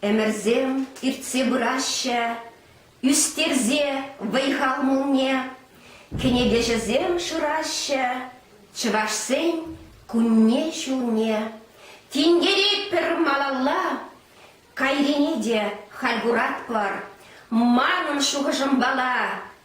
Ӗмӗрсем иртсе пыраҫҫӗ, ӳстерсе вӑй-хал молне, кӗнекеҫӗсем шыраҫҫӗ чӑвашсен кунне-ҫулне. Тинкеретпӗр малалла, кайрине те халь куратпӑр. Манӑн шухӑшӑмпала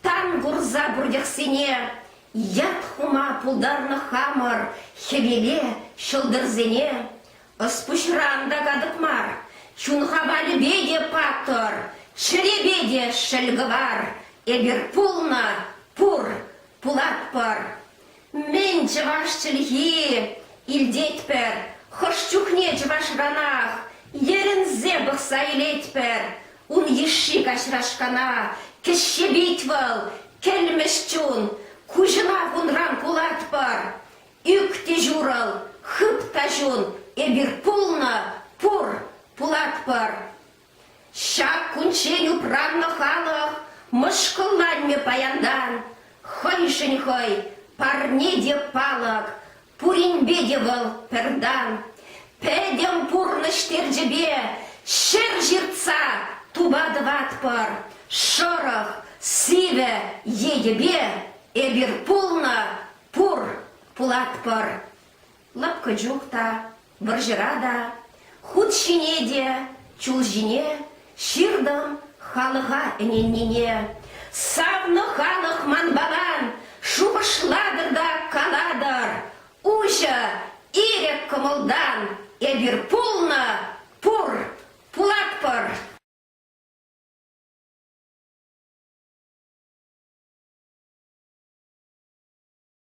Тан курса пуртехсене ят хума пултарнӑ хамӑр хӗвеле ҫӑлтӑрсене. Ӑс-пуҫран та катӑк мар, чун хавалӗпе те паттӑр, чӗрепе те шӗл кӑвар. Эпир пулнӑ, пур, пулатпӑр. Мӗн чӑваш чӗлхи илтетпӗр, хӑш чухне чӑвашранах йӗрӗнсе пӑхса илетпӗр. Ун йышши каҫрашкана кӗҫҫепет вӑл, кӗлмӗҫ чун. Куҫӑма кунран кулатпӑр. Ӳк те ҫурӑл, хыт та ҫун, эпир пулнӑ, пур, пулатпӑр. Ҫак кунччен упраннӑ халӑх мӑшкӑлланмӗ паянтан. Хӑйшӗн хӑй, парне те палӑк, пуринпе те вӑл пӗртан. Пӗтӗм пурнӑҫ терчӗпе ҫӗр ҫыртса тупа тӑватпӑр. Шӑрӑх, сивӗ йӗтӗпе эпир пулнӑ, пур, пулатпӑр. Лӑпкӑ чух та, вӑрҫӑра та, хут ҫине те, чул ҫине ҫыртӑм халӑха ӗненнине. Савнӑ халӑх манпаран шухӑшлатӑр та калатӑр, уҫӑ, ирӗк кӑмӑлтан эпир пулнӑ, пур, пулатпӑр!